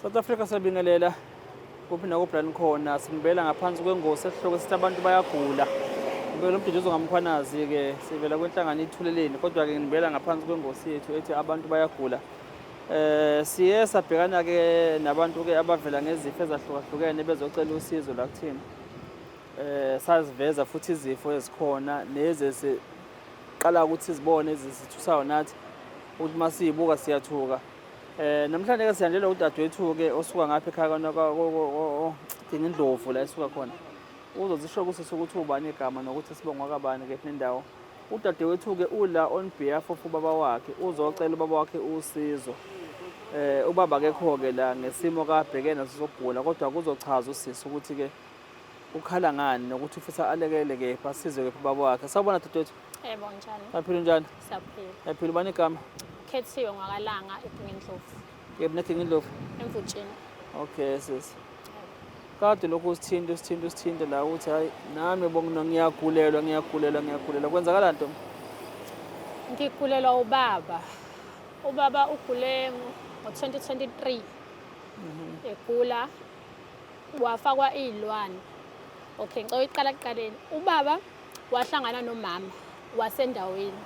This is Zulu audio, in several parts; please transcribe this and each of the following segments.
South Africa sabingelela kuphi nakobran khona simbela ngaphansi kwengosi esihloko sithi abantu bayagula ngibela umduduzo ngamkhwanazi-ke sivela kwenhlangano ithuleleni kodwa-ke ngibela ngaphansi kwengosi yethu ethi abantu bayagula um siye sabhekana-ke nabantu-ke abavela ngezifo ezahlukahlukene bezocela usizo la kuthina um saziveza futhi izifo ezikhona nezi eziqala ukuthi zibone ezisithusayo nathi ukuthi uma siyibuka siyathuka Eh namhlanje ke sihanjelwa udadewethu ke osuka ngapha ekhaya kana kodinga indlovu la esuka khona. Uzozisho kusisi ukuthi ubani igama nokuthi sibongwa kabani ke nendawo. Udadewethu ke ula on behalf of ubaba wakhe uzocela ubaba wakhe usizo. Eh ubaba akekho ke la ngesimo kabhekene sokugula kodwa kuzochaza usisi ukuthi ke ukhala ngani nokuthi ufisa alekele kephi asizwe kephi ubaba wakhe sawubona dudethu Yebo njani? Baphila njani? Siyaphila. Yaphila ubani igama? Khethiwe ngwakalanga eDingindlovu. Yebo neDingindlovu. Emvutshini. Okay sis. Kade lokhu usithinta usithinta usithinta la ukuthi hayi nami bongino ngiyagulelwa ngiyagulelwa ngiyagulelwa kwenzakala nto. Ngigulelwa ubaba. Ubaba ugule ngo-2023. Mhm. Egula wafakwa iy'lwane okay ngicela uyiqala kuqaleni ubaba wahlangana nomama wasendaweni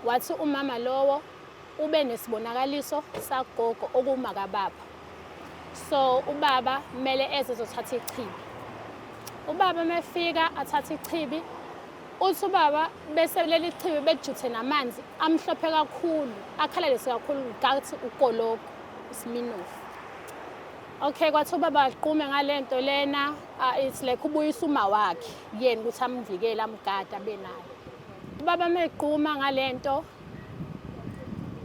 wathi umama lowo ube nesibonakaliso sagogo okumakababa so ubaba kumele eze ezothatha ichibi ubaba mefika athatha ichibi uthi ubaba bese leli chibi bejuthe namanzi amhlophe kakhulu akhalalise kakhulu ngathi ugologo isiminofu Okay kwathi ubaba aqume ngalento lena uh, it's like ubuyisa uma wakhe kuyena ukuthi amvikele amgada benayo ubaba mequma ngalento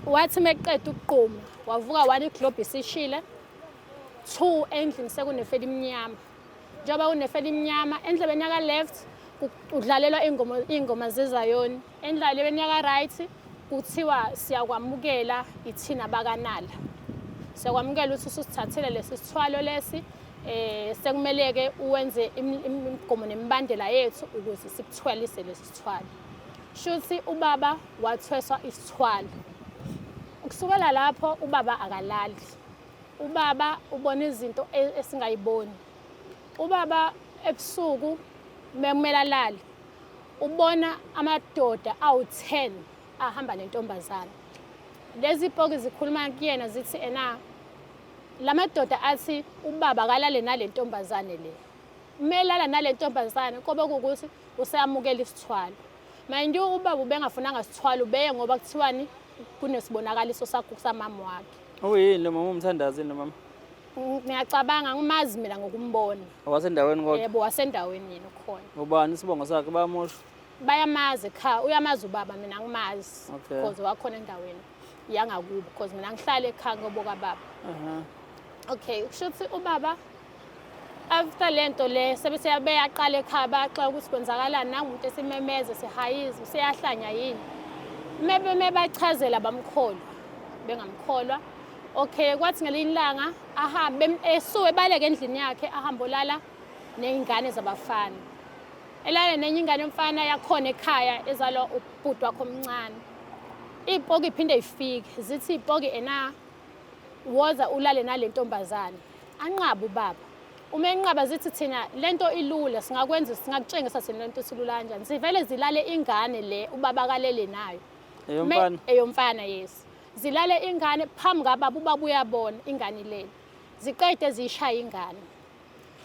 wathi meqeda ukuquma wavuka wani globe isishile two endlini sekunefela imnyama njengoba kunefela imnyama endlebeni yaka left udlalelwa ingoma ingoma zezayoni Endlalelweni yaka-right kuthiwa siyakwamukela ithina bakanala siyakwamukela ukuthi ususithathile lesi sithwalo lesi eh sekumele-ke uwenze imigomo nemibandela yethu ukuze sikuthwalise lesi sithwalo shuthi ubaba wathweswa isithwalo kusukela lapho ubaba akalali ubaba ubona izinto e-, esingayiboni ubaba ebusuku mekumele alale ubona amadoda awu-10 ahamba nentombazana lezi poki zikhuluma kuyena zithi ena la madoda athi ubaba kalale nale ntombazane le umelala nale ntombazane kobe kuwukuthi useyamukela isithwalo mind you ubaba ubengafunanga sithwalo ubeye ngoba kuthiwani kunesibonakaliso sakho samama wakhe uyini lo mama umthandazi yini lo mama ngiyacabanga ngimazi mina ngokumbona wasendaweni kodwa yebo wasendaweni yena ukhona ubani isibongo sakhe bayamosha bayamazi cha uyamazi ubaba mina ngimazi Okay. because wakhona endaweni yangakubo because mina ngihlale ekhaya ngoboka baba Aha. okay kusho ukuthi ubaba after le nto le sebe seyabeyaqala ekhaya bayaxola ukuthi kwenzakalani nangumuntu esimemeze sihayiza useyahlanya yini mebe mebachazela bamkholwa bengamkholwa okay kwathi ngelinye ilanga ahambe esuke ebaleke endlini yakhe ahambe olala ney'ngane zabafana elale nenye ingane yomfana yakhona ekhaya ezalwa ubhuti wakho omncane iy'poki iphinde ifike zithi iy'poki ena woza ulale nale ntombazane anqaba ubaba uma enqaba zithi thina le nto ilula singakwenza singakutshengisa thina le nto silula kanjani zivele zilale ingane le ubaba kalele nayo eyomfana yes zilale ingane phambi kababa ubaba uyabona ingane ilele ziqede ziyishaya ingane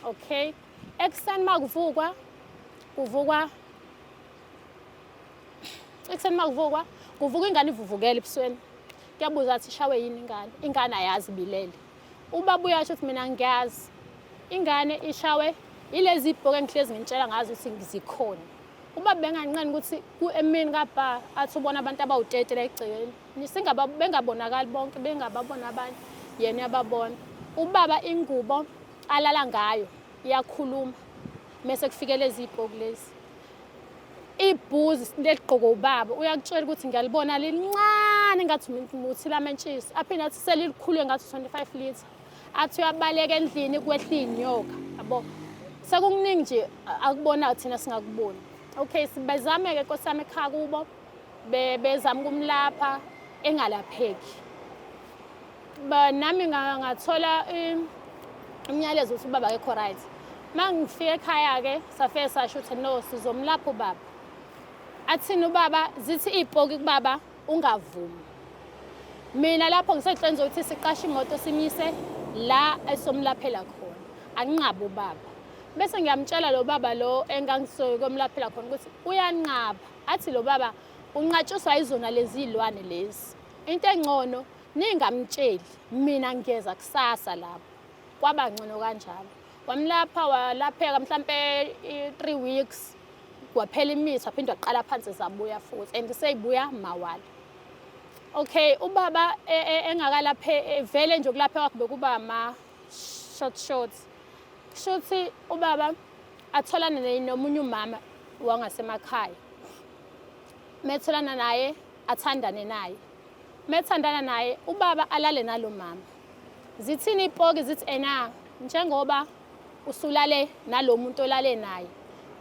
okay ekuseni uma kuvukwa kuvukwa ekuseni uma kuvukwa kuvuka ingane ivuvukele ebusweni kuyabuza athi ishawe yini ingane ingane ayazi bilele Ubaba uyasho ukuthi mina ngiyazi ingane ishawe ilezi ibhoke engihlezi ngintshela ngazo ukuthi ngizikhona uba benganqeni ukuthi emini kabha athi ubona abantu abawutete la egcekeni bengabonakali bonke bengababona abanye yena uyababona ubaba ingubo alala ngayo iyakhuluma mese kufikela ezibhoku lezi ibhuzi isinto eligqoke ubaba uyakutshela ukuthi ngiyalibona lincane ngathi muthi lamentshisi aphinde athi selilikhulu ngathi 25 litre athi uyabaleka endlini kwehla iy'nyoka yabo sekukuningi nje akubonayo thina singakuboni okay bezame-ke nkosi yami ekhaya kubo bezama ukumlapha engalapheki nami ngathola umyalezo ukuthi ubaba kekho right uma ngifike ekhaya-ke safike sasho ukuthi no sizomlapha ubaba athini ubaba zithi iy'poki kubaba ungavumi mina lapho ngisehleni zokuthi siqashe imoto simyise la esomlaphela khona anqabe ubaba bese ngiyamtshela lo baba lo engangisoke komlaphela khona ukuthi uyanqaba athi lo baba unqatshiswa yizona lezi iy'lwane lezi into engcono Ningamtsheli mina ngiyeza kusasa lapho. Kwaba ngcono kanjalo. Wamlapha walapheka mhlampe 3 weeks waphela imithi waphinde waqala phansi zabuya futhi and seyibuya mawala. Okay ubaba e, e, engakalaphe e, vele nje ukulaphe kwakhe bekuba ma short short. Kushuthi ubaba atholane nomunye umama wangasemakhaya. Metholana naye athandane naye. Methandana naye ubaba alale nalo mama. Zithini ipoki zithi ena njengoba usulale nalomuntu olale naye.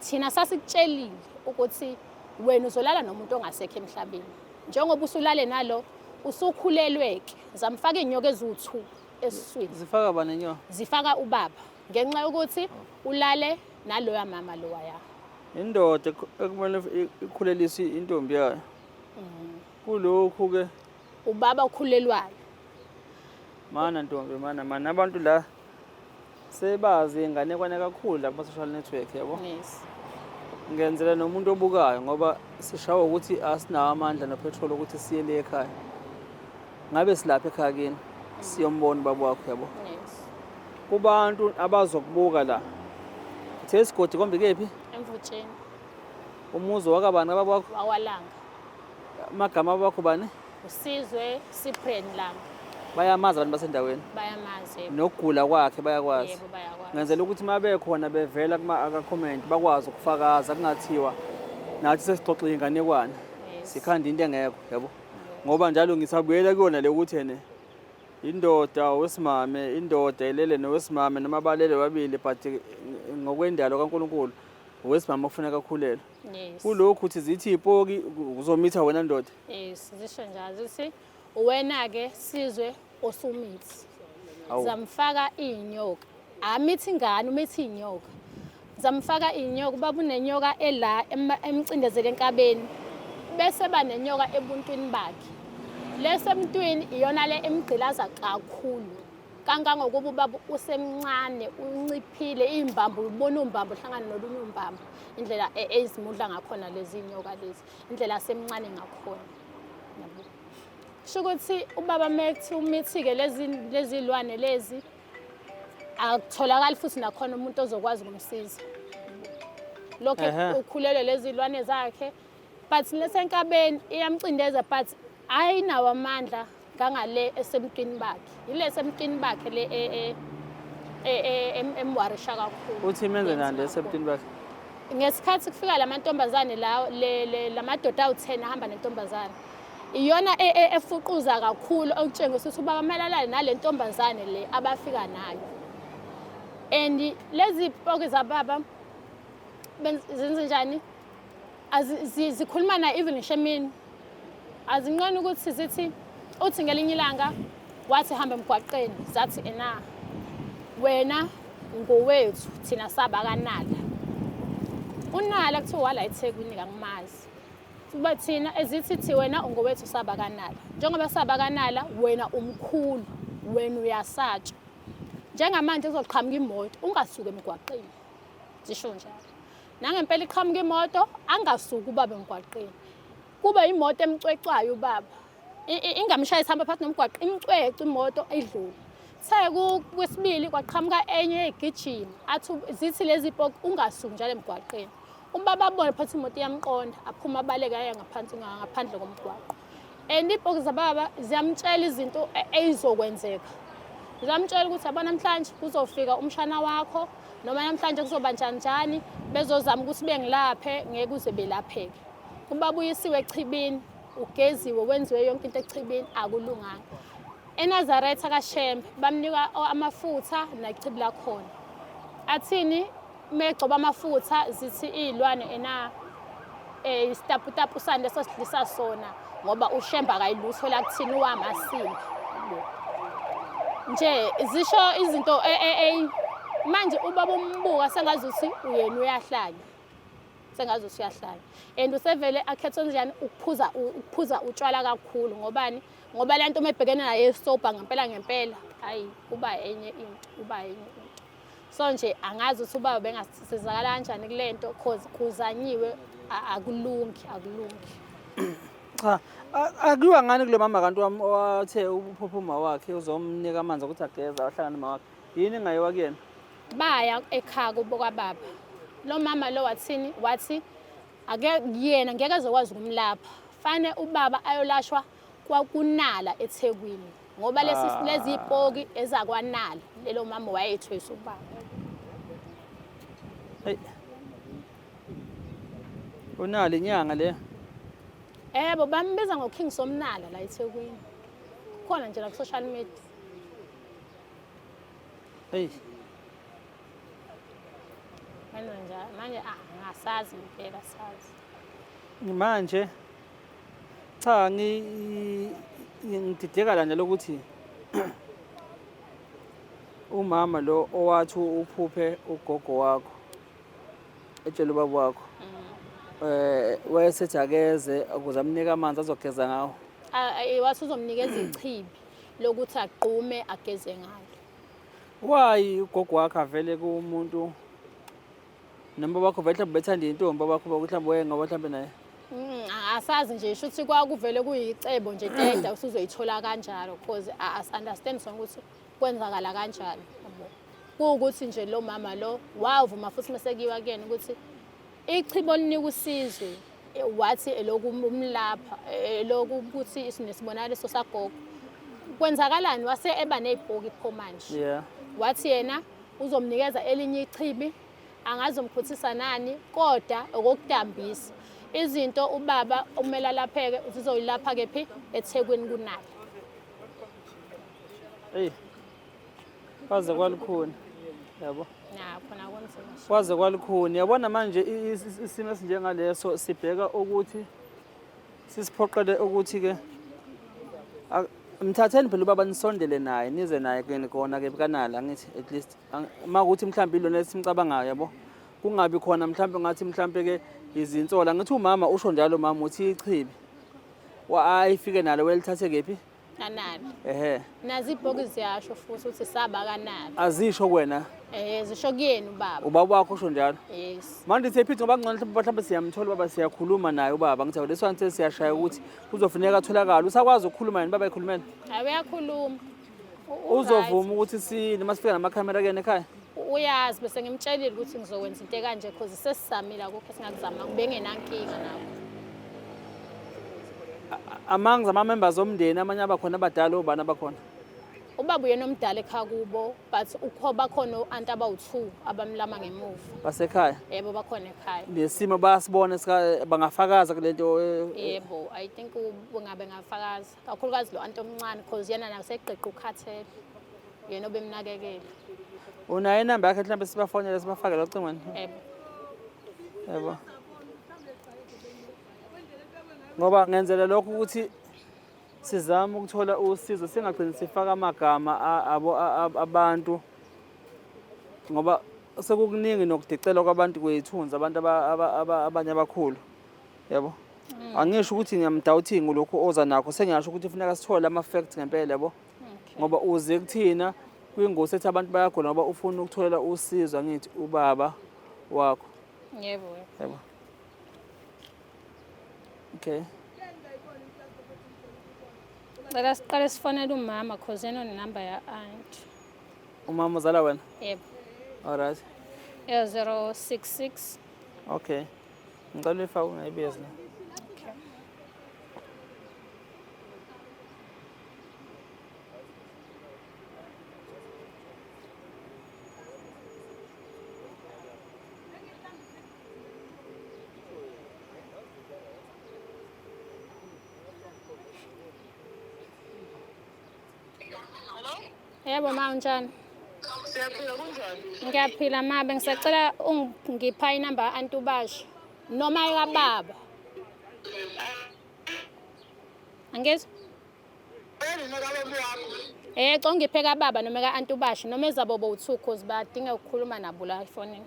Thina sasikutshelile ukuthi wena uzolala nomuntu ongasekho emhlabeni. Njengoba usulale nalo usukhulelweke zamfaka inyoka eziwu2 esiswini. Zifaka bani inyoka? Zifaka ubaba ngenxa yokuthi ulale naloya mama lowa ya. Indoda ekumele ikhuleliswe intombi yayo. Mm. kulokhu ke ubaba okhulelwayo mana ntombi mana mana abantu la sebazi inganekwane kakhulu la kuma-social network yabo yes ngenzela nomuntu obukayo ngoba sishawa ukuthi asinawo amandla nophethroli ukuthi siye le ekhaya ngabe silapha ekhaya kini siyombona ubaba wakho yabo yes kubantu abazokubuka la uthe isigodi kombi kephi emvutsheni umuzi wakabani ababakho wawalanga Amagama wakho bani? Usizwe Cyprian Langa. Bayamazi abantu basendaweni? Bayamazi. Yebo. Nokugula kwakhe bayakwazi? Yebo bayakwazi. Ngenzela ukuthi uma bekhona bevela kuma-comment bakwazi ukufakaza kungathiwa nathi sesixoxa inganekwane sikhanda into engekho yabo ngoba njalo ngisabuyela kuyona le ukuthi ene indoda wesimame indoda elele nowesimame noma balele babili but ngokwendalo kaNkuluNkulu wesimame kufuneka akhulelwe Yes. Kulokhu uthi zithi ipoki uzomitha wena ndoda. Yes, zisho njalo zithi wena ke sizwe osumithi. Awu. Zamfaka inyoka. Amithi ingane umithi inyoka. Zamfaka inyoka baba unenyoka ela ema- emcindezele enkabeni. Bese banenyoka ebuntwini bakhe. Lesemntwini iyona le emgqilaza kakhulu. kangangokuba ubaba usemncane unciphile iy'mbambo ubona umbambo uhlangane nolunye umbambo indlela e, ezimudla ngakhona lezi nyoka lezi indlela asemncane ngakhona kusho ukuthi ubaba methi umithike lezi lwane lezi akutholakali futhi nakhona umuntu ozokwazi ukumsiza lokho ukhulelwe lezi lwane zakhe but lesenkabeni iyamcindeza but ayinawo amandla ngangale esemntwini bakhe yile esemntwini bakhe le e, e, e, emwarisha kakhulu uthi menze nani esemntwini bakhe ngesikhathi kufika la mantombazane lawo la madoda awu-ten ahamba nentombazane iyona efuquza kakhulu okutshengisa ukuthi ubaba kumele alale nale ntombazane le abafika nayo and lezi poki zababa zenze njani zikhuluma na even ngisho emini azinqeni ukuthi zithi uthi ngelinye ilanga wathi hamba emgwaqeni zathi ena wena ngowethu thina saba kanala unala kuthiwa wala ethekwini kangimazi kuba thina ezithi thi wena ungowethu saba kanala njengoba saba kanala wena umkhulu wena uyasatshwa njengamanje kuzoqhamuka imoto ungasuke emgwaqeni zisho njalo Nangempela iqhamuka imoto angasuki ubaba emgwaqeni. Kube imoto emcwecwayo ubaba. Ingamshaya isihamba phakathi nomgwaqo imcwece imoto idlule. Sekwesibili kwaqhamuka enye egijima athi zithi lezi poke ungasuki njalo emgwaqeni. Ubaba abone phansi imoto iyamqonda aphuma abaleke aye ngaphansi ngaphandle komgwaqo. and ibhoki zababa ziyamtshela izinto eyizokwenzeka ziyamtshela ukuthi yabo namhlanje kuzofika umshana wakho noma namhlanje kuzoba njani njani bezozama ukuthi bengilaphe ngeke uze belapheke ubabuyisiwe echibini ugeziwe wenziwe yonke into echibini akulunganga enazaretha kashembe bamnika amafutha nechibi lakhona athini uma egcoba amafutha zithi iy'lwane ena um isitaputapu sani leso sidlisa sona ngoba ushemba kayilutho la kuthini uwamasimba nje zisho izinto e, e, e, manje ubaba umbuka sengazi ukuthi uyena uyahlanya sengazi ukuthi uyahlanya and usevele akhethe njani ukuphuza ukuphuza utshwala kakhulu ngobani ngoba lento uma ebhekene naye sober ngempela ngempela hayi kuba enye into kuba enye into so nje angazi ukuthi ubaba bengasizakala kanjani kule nto cause kuzanyiwe akulungi akulungi cha akuyiwa ngani kulo mama kanti wami owathe uphupha uma wakhe uzomnika amanzi okuthi ageza ahlangane uma wakhe yini engayiwa kuyena baya ekhaya kubo kwababa lo mama lo wathini wathi ake yena ngeke ezokwazi ukumlapha fane ubaba ayolashwa kwakunala ethekwini ngoba lesi ah. lezi ipoki ezakwanala lelo mama wayethwesa ubaba hey unali inyanga le ebo bambiza ngo King Somnala la eThekwini khona nje la ku social media hey manje manje ah ngasazi impela sazi manje Cha ngidideka la nje lokuthi umama lo owathi uphuphe ugogo wakho etshela ubaba wakho mm. eh wayesethi akeze ukuze amnike amanzi azogeza ngawo wathi uzomnikeza ichibi lokuthi agqume ageze ngalo why ugogo wakhe avele kumuntu Noma bakho vele bethanda intombi abakho ukuthi mhlawumbe waye ngoba mhlawumbe naye. Mm, asazi nje sho ukuthi kwakuvele kuyicebo nje keda usuzoyithola kanjalo because as understand sonke ukuthi kwenzakala kanjalo yabo kuwukuthi nje lo mama lo wavuma futhi masekiwa kuyena ukuthi ichibo linika usizwe eh, wathi eloku umlapha eh, eloku ukuthi sinesibonakaliso sagogo kwenzakalani wase eba nezibhoki pho manje yeah wathi yena uzomnikeza elinye ichibi angazomkhuthisa nani kodwa okokudambisa izinto ubaba okumele alapheke zizoyilapha kephi ethekwini kunalo eyi kwaze kwalukhuni yabo kwaze kwalukhuni yabona manje isimo esinjengaleso sibheka ukuthi sisiphoqele ukuthi-ke Mthatheni phela ubaba nisondele naye nize naye kuyena kona ke kanali angithi at least uma ukuthi mhlawumbe ilona esimcabangayo yabo kungabi khona mhlawumbe ngathi mhlawumbe ke izinsola ngithi umama usho njalo umama uthi ichibi ayifike nalo welithathe kephi kanali ehe nazi ibhoki ziyasho futhi uthi saba kanali azisho kwena eh zisho kuyena ubaba ubaba wakho usho njalo yes manje siyaphitha ngoba ngcono mhlawumbe mhlawumbe siyamthola ubaba siyakhuluma naye ubaba ngithi leso anse siyashaya ukuthi Kuzofuneka atholakale. Usakwazi ukukhuluma yini baba ekhulumela? Hayi uyakhuluma. U- Uzovuma ukuthi si noma sifika namakhamera kuyena ekhaya. u- Uyazi bese ngimtshelile ukuthi ngizokwenza into ekanje cause sesizamile akukho esingakuzama bengenankinga nawe. Among zama members omndeni amanye abakhona abadala obani abakhona. ubaba uyena omdala ekhaya kubo but ukho bakhona o-anti abawu-two abamlama ngemuva basekhaya yebo bakhona ekhaya nesimo bayasibona bangafakaza kule nto eh, eh. yebo i think ungabe ngafakaza kakhulukazi lo anti omncane because yena naseqeqa ukhathele yena obemnakekele unayo inamba yakhe mhlawumbe sibafonele sibafakele ocingweni yebo yebo ngoba ngenzela lokho ukuthi Sizama ukuthola usizo singagcini sifaka amagama abantu ngoba sekukuningi nokudicelwa kwabantu kwethunzi abantu abanye abakhulu yabo mm. angisho ukuthi ngiyamdawuthingi lokhu oza nakho sengiyasho ukuthi kufuneka sithole ama-fact ngempela yabo ngoba uze kuthina kwingosi ethi abantu bayagula ngoba ufuna ukutholela usizo angithi ubaba wakho yebo yebo okay cela siqale sifonele umama cause yena onenumber ya-aunt umama uzala wena yebo alright ya 066 okay ngicela uyifake ungayibizi na Yebo ma unjani? Siyaphila kunjani? Ngiyaphila ma bengisacela ungipha inamba ka-anti ubasho noma ekababa. Angizwa? Eh, congiphe kababa noma ka-anti ubasho noma ezabo bo-two cause badinga ukukhuluma nabo la efonini.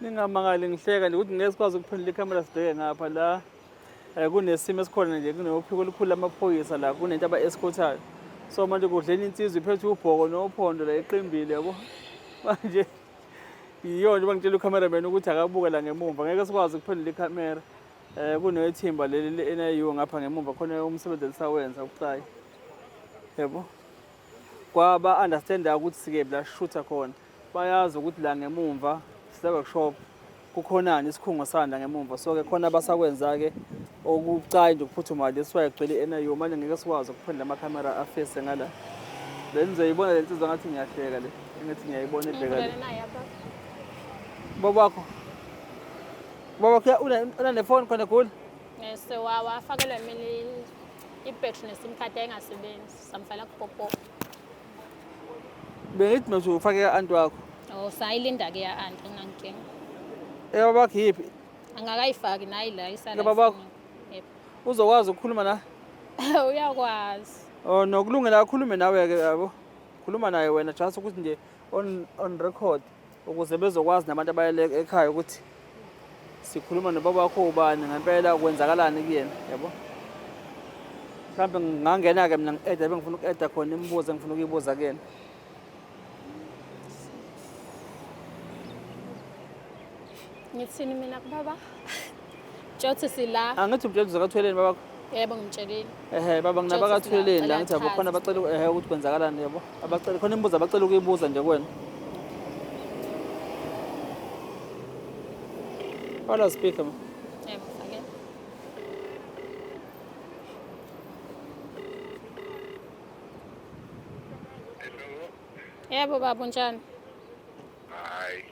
Ningamangali ngihleka nje ukuthi ngeke sikwazi ukuphendula ikhamera sibheke ngapha la um kunesimo esikhona nje kunophiko olukhulu lamaphoyisa la kunento aba-eskhothayo so manje kudleni insizwa iphethe ubhoko nophondo la iqimbile yabo manje yiyona njengoba ngitshela ucameraman ukuthi akabuke la ngemumva ngeke sikwazi ukuphendula ikhamera um eh, kunethimba leli le-niu ngapha ngemumva khona umsebenzi elisawenza ubucayi yebo kwaba-understanda ukuthi sikephi la shutha khona bayazi ukuthi la ngemumva siseworkshop kukhonani isikhungo sanda ngemumva so ke khona abasakwenza-ke okubucayi nje ukuphuthuma le siwaye kugcwele i-nio manje ngeke sikwazi ukuphendula amakhamera afese ngala bengizoyibona le nsizwa ngathi ngiyahleka le engathi ngiyayibona ebheka le babakho babakho unanefoni khona gula ngese wawa afakelwe mina ibhetri nesim card ayingasebenzi samfela kupopo bengithi mina uzofake ka-anti wakho Oh, sayilinda ke ya anti ngankinga. eyababakho yiphi Angakayifaki nayi la isala. Laba bakho? ifuneka. Yep. uzokwazi ukukhuluma na Uyakwazi. Oh, nokulungela akhulume nawe-ke yabo khuluma naye wena just ukuthi nje on, on record ukuze bezokwazi nabantu abayele ekhaya ukuthi sikhuluma nobaba wakho ubani ngempela kwenzakalani kuyena yabo mhlawumbe ngingangena-ke mina ngi-eda bengifuna uku-eda khona imibuzo engifuna ukuyibuza kuyena ngithini mina kubaba Tshothi sila. Angithi umtshela ukuthi zakathweleni babakho. Yebo ngimtshelile. Ehhe baba nginabakathweleni la ngithi yabo khona abacela ehhe ukuthi kwenzakalani yabo. Abacela khona imibuzo abacela ukuyibuza nje kuwena. Wala speaker ma. Yebo fake. Yebo baba unjani? Hayi.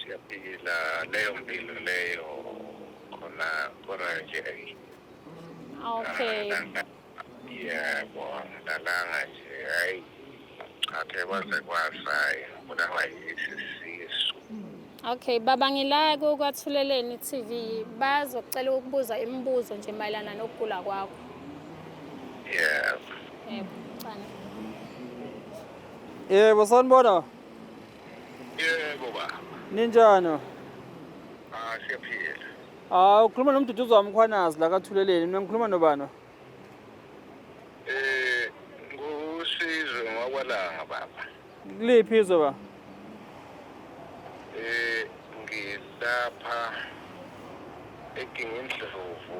siyaphila leyo mpilo leyo khona khona nje okay yebo ngidalanga nje hayi athe kwaze kwasayi ngibulawa yisi sisu okay baba ngilaya kukwathuleleni tv bazokucela ukubuza imibuzo nje mayelana nokugula kwakho yebo yebo sanibona Yebo ba. Ninjani? Ah siyaphila. Ah ukhuluma nomduduzi wami ukhwanazi la kathuleleni. Mina ngikhuluma nobani? Eh ngusizwe ngwakwalanga baba. Kuliphi izwe ba? Eh ngilapha eKingindlovu.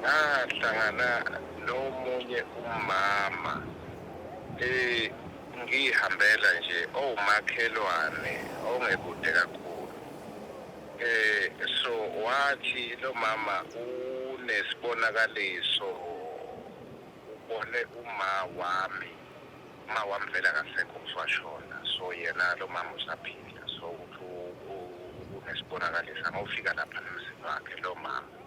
ngahlangana nomunye umama eh ngihambela nje owumakhelwane ongekude kakhulu eh so wathi lo mama unesibonakaliso ubone uma wami uma wami vele akasekho uswashona so yena lo mama usaphila so unesibonakaliso angofika lapha nomzini wakhe lo mama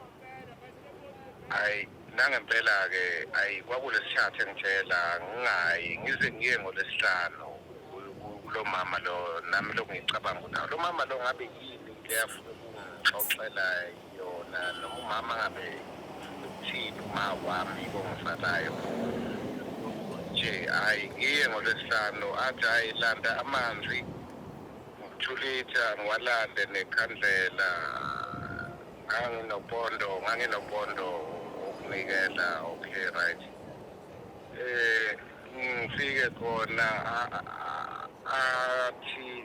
hayi nangempela-ke hayi kwakulesithathu engitshela ngingayi ngize ngiye ngolesihlanu kulo mama lo nami lokhu ngicabanga ukuthi lo mama lo ngabe yini into eyafuna ukungixoxela yona noma umama ngabe uthini uma wami kongisalayo nje hhayi ngiye ngolwesihlanu athi hhayi landa amanzi ngithulitha ngiwalande nekhandlela nganginopondo nganginopondo wokunikela okay right eh ngifike khona athi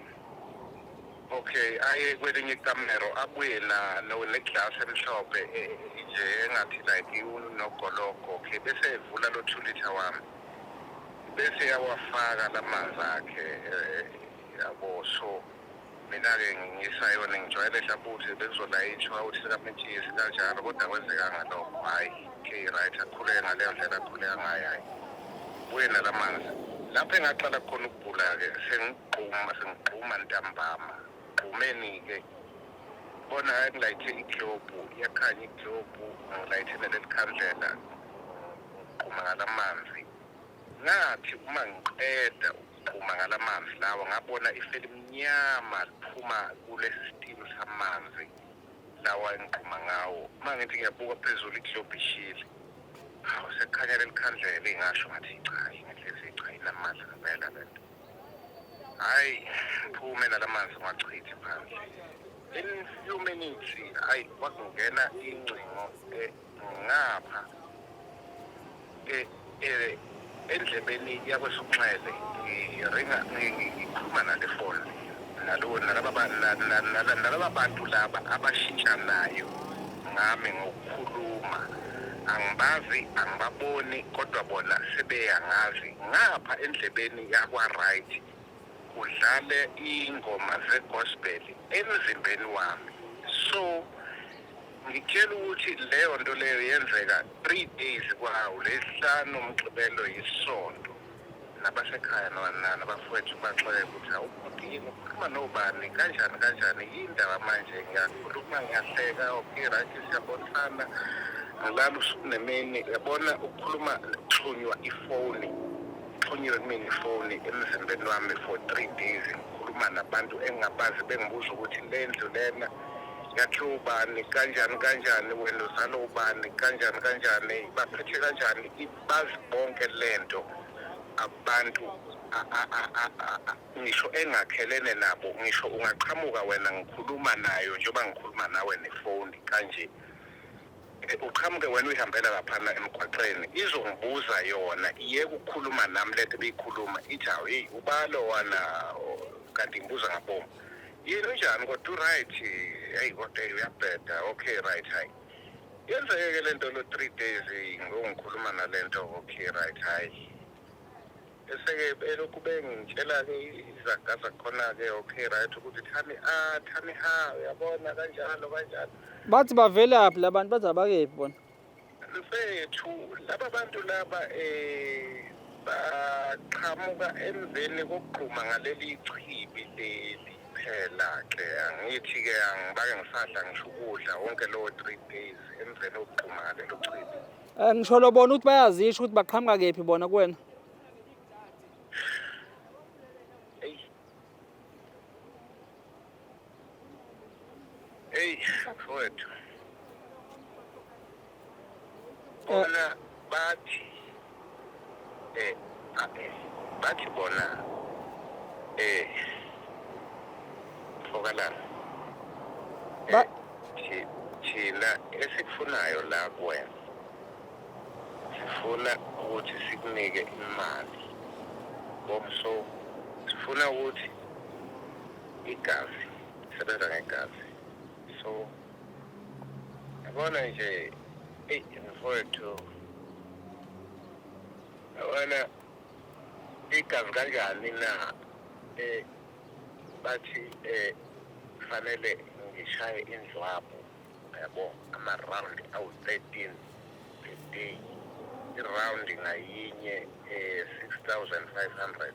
okay aye kwelinye ikamero abuye na neglass emhlophe eh, nje engathi like unogologo okay bese evula lo 2 liter wami bese yawafaka lamanzi akhe eh, yabo so Mina-ke ngisayona ngijwayele hlabuthi bekuzolayishwa uthi sikametshisi kanjalo kodwa kwenzekanga lokho hhayi okay right akhuleke ngaleyo ndlela akhuleka ngayo hhayi buye nala manzi lapho engaqala khona ukugula-ke sengigquma sengigquma ntambama gqumeni-ke bona ngilayithe iglobhu iyakhanya iglobhu ngilayithe neleli khandlela ngigquma ngala manzi ngathi uma ngiqeda phuma ngala manzi lawa ngabona iselimnyama liphuma kulesi sitilo samanzi lawa engiqhuma ngawo uma ngithi ngiyabuka phezulu iglobhu ishile hawu sekukhanya leli khandlela ingasho ngathi cha ingenhlezi cha inamandla ngempela le nto hhayi ngiphume nala manzi ngiwachithi phandle in few minutes ayi kwakungena ingcingo e-, ngapha e- e- endlebeni yakwesokunxele ngiringa ngi- ngi- ngikhuluma nale foni nalo- nalaba ba- na- na- na- nalaba bantu laba abashintshanayo ngami ngokukhuluma angibazi angibaboni kodwa bona sebeyangazi ngapha endlebeni yakwa-right kudlale iy'ngoma zegospel emzimbeni wami so Ngitshela ukuthi leyo nto leyo yenzeka three days kwawo lesihlanu umgqibelo yisonto nabasekhaya nabafowethu baxoke ukuthi awubhuti yini ukhuluma nobani kanjani kanjani yindaba manje ngiyakhuluma ngiyahleka okay right siyabonisana ngilala usuku nemini yabona ukukhuluma kuxhunywa ifoni kuxhunyiwe kumina ifoni emzimbeni wami for three days ngikhuluma nabantu engingabazi bengibuza ukuthi le ndlu lena yakhiwa ubani kanjani kanjani wena uzala ubani kanjani kanjani baphethe kanjani bazi bonke lento abantu ngisho engakhelene nabo ngisho ungaqhamuka wena ngikhuluma nayo njengoba ngikhuluma nawe nefoni kanje eh, uqhamuke wena uyihambela laphana emgwaqeni izongibuza yona iye kukhuluma nami lento beyikhuluma ithi hawu yeyi ubalo wana kanti ngibuza ngaboma yini unjani kodwa uright eyi kodwa eyi uyabheda okay right hayi yenzeke-ke le nto lo three days ngongikhuluma nale nto okay right hayi eseke belokhu bengitshela-ke izaga zakhona-ke okay right ukuthi thami a ah, thami ha uyabona kanjalo kanjalo bathi bavelaphi la bantu bathi abakephi bona Mfethu laba bantu laba eh baqhamuka emveni kokugquma ngaleli chibi leli phela ke angithi ke angibake ngisadla ngisho ukudla wonke lowo 3 days emveni kokugquma ngalelo chibi Eh ngisho lobona ukuthi bayazisho ukuthi baqhamuka kephi bona kuwena. Hey, mfowethu. Bona bathi eh bathi bona eh fokalana ba eh, thina esikufunayo la kuwena sifuna ukuthi sikunike imali ngomso sifuna ukuthi igazi isebenza ngegazi so yabona nje eyi mfowethu yabona igazi kanjani na um bathi um kufanele ngishaye indlwabu yabo ama-round awu-thirteen a day i-round ngayinye um six thousand five hundred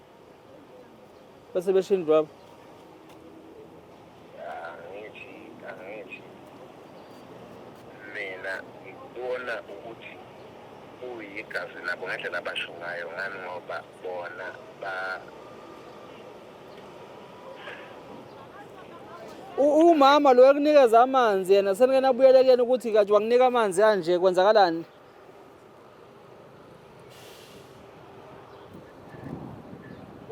bese beshini baba angithi angithi mina ngikubona ukuthi uyigazi labo ngendlela abasho ngayo ngani ngoba bona ba umama lo ekunikeza amanzi yena senike nabuyelekeni ukuthi kathi wanginika amanzi kanje kwenzakalani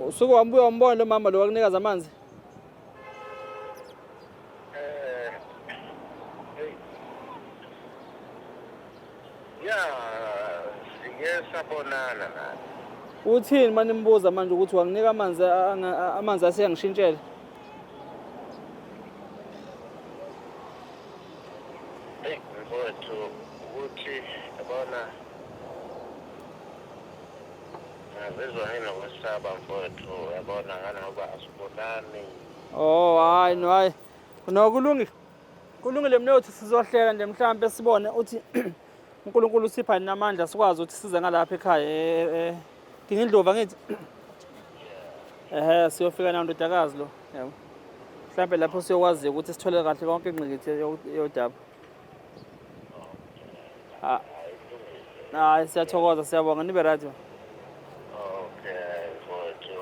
usuke wambuya wambona lo mama lo wakunikaza amanzi eh, ya sike sabonana naye uthini manje nimbuza manje ukuthi wanginika amanzi amanzi asiyangishintshela Eyi mfowethu ukuthi yabona ngazizwa nginokwesaba mfowethu yabona nganoba asibonani Oh hayi no hayi. No kulungile. Kulungile mnewethu sizohlela nje mhlambe sibone uthi uNkulunkulu usipha nina amandla sikwazi ukuthi size ngalapha ekhaya eh Dingindlovu angithi ehe siyofika nawo ndodakazi lo yabo mhlawumbe lapho siyokwazi ukuthi sithole kahle konke ingqikithi yodaba ah. hayi siyathokoza siyabonga nibe right okay mfowethu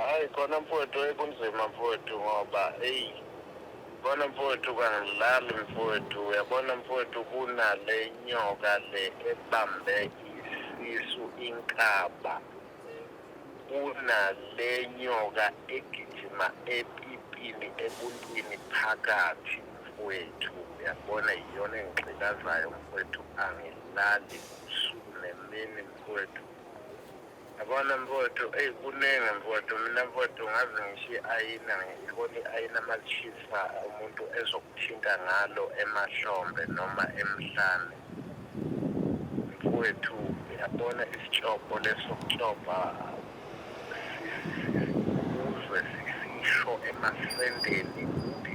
hayi khona mfowethu ekunzima mfowethu ngoba eyi Yabona mfowethu kangilali mfowethu uyabona mfowethu kunale nyoka le ebambe isisu inkaba kunale nyoka egijima epipini ebuntwini phakathi mfowethu uyabona yiyona engigxilazayo mfowethu angilali usuku nemini mfowethu Yabona mfowethu, eyi kuningi mfowethu, mina mfowethu ngaze ngisho i-ayina ngibona i-ayina malishisa umuntu ezokuthinta ngalo emahlombe noma emhlane. Mfowethu uyabona isitshobho lesokutshobha uzwe sisisho emasendeni ukuthi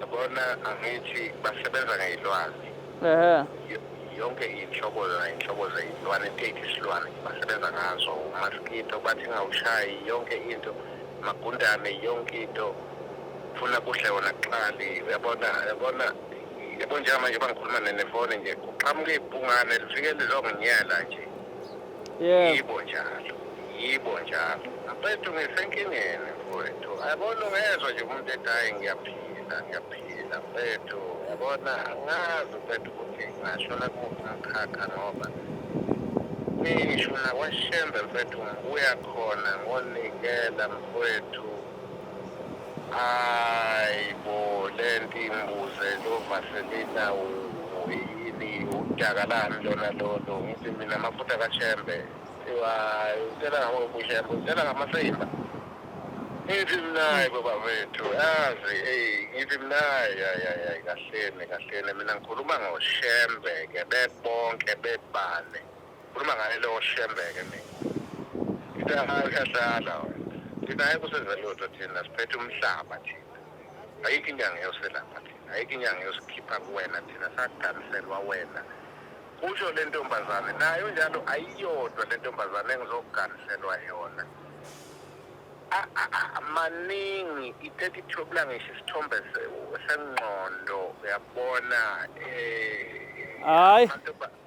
Yabona angithi basebenza ngey'lwane. Ehhe. Yonke iy'nhlobo nay'nhlobo zey'lwane, take isilwane basebenza ngazo. Umaskito bathi ngawushayi yonke into, magundane yonke into. Funa kudle wona kuqali, uyabona, uyabona. Yabo njengamanje uma ngikhuluma nefoni nje, kuqhamuka ibhungane lifike lizonginyela nje. Yebo. yibo njalo yibo njalo mfethu ngisenkingeni mfowethu yabona ungezwa nje umuntu ethi hayi ngiyaphila ngiyaphila mfethu yabona angazi mfethu ukuthi ngashona kumuphi umkhakha ngoba ngisho nakwashembe mfethu ngibuya khona ngonikela mfowethu Hayi bo lento imbuze lo Vaselina uyini udakalani lona lolo ngithi mina amafutha kaShembe iwa utshela ngokushembe utshela ngamasimba ngithi mnayi baba wethu yazi eyi ngithi mnayi yayayayi kahleni kahleni mina ngikhuluma ngoshembe-ke bebonke bebane Khuluma ngaye lowo shembeke mina. Into yahayo uyahlala wena. Thina ayikho senza lutho thina siphethe umhlaba thina. Ayikho inyanga yoselapha thina. Ayikho inyanga yosikhipha kuwena thina saganiselwa wena. Kusho le ntombazane nayo njalo ayiyodwa le ntombazane engizoganiselwa yona. A- a- a- maningi ithethe ithobula ngisho isithombe se- sengqondo uyabona eh Hayi. amantombazane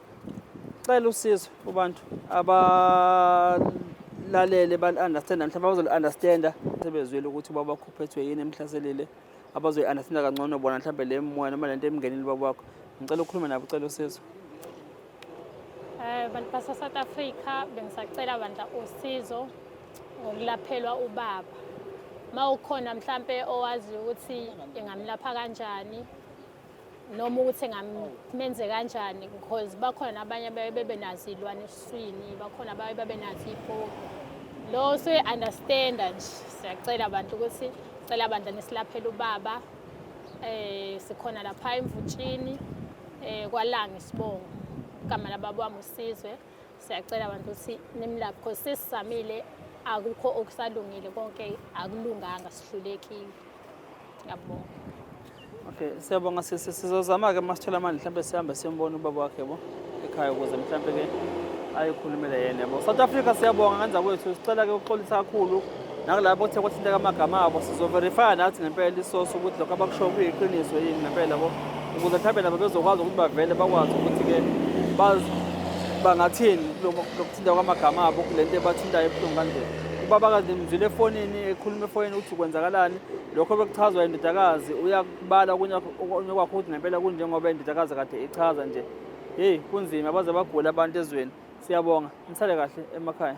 Cela usizo kubantu abalalele bali-understanda mhlawumbe abazoli-understanda sebezwile ukuthi ubaba wakho uphethwe yini emhlaselile abazoyi-understanda kangcono bona mhlawumbe le moya noma le nto emngenile ubaba wakho ngicela ukhulume nabo ucela usizo um bantu basa-south africa bengisacela bandla usizo ngokulaphelwa ubaba uma ukhona mhlampe owaziyo ukuthi ingamlapha kanjani noma ukuthi ngamenze kanjani because bakhona nabanye abaye bebe nazo iy'lwane esiswini bakhona abaye babe nazo iy'poki lo suyi-understanda nje siyacela abantu ukuthi cela bandla nisilaphele ubaba um sikhona lapha emvutshini um eh, kwalange isibongo igama lababa wami usizwe siyacela abantu ukuthi nimlaphe because sesisamile akukho okusalungile konke akulunganga sihlulekile ngiyabonga okay siyabonga sisi sizozama-ke uma sithola amandla mhlawumbe sihambe siyombona ubaba wakhe bo ekhaya ukuze mhlawumbe-ke ayikhulumele yena yabo south africa siyabonga ngenza kwethu sicela-ke ukuxolisa kakhulu nakulabo kuthe kwathinteka amagama abo sizoverifya nathi ngempela isosi ukuthi lokho abakushoyo kuyiqiniso yini ngempela bo ukuze mhlawumbe nabo bezokwazi ukuthi bavele bakwazi ukuthi-ke bangathini lokuthinta kwamagama abo kule nto ebathintayo ebuhlungu kanje ubabakazi ngimzwile efonini ekhuluma efonini ukuthi kwenzakalani lokho bekuchazwa indodakazi uyakubala okunye kwakho ukuthi ngempela kunjengoba indodakazi kade ichaza nje heyi kunzima baze bagula abantu ezweni siyabonga nisale kahle emakhaya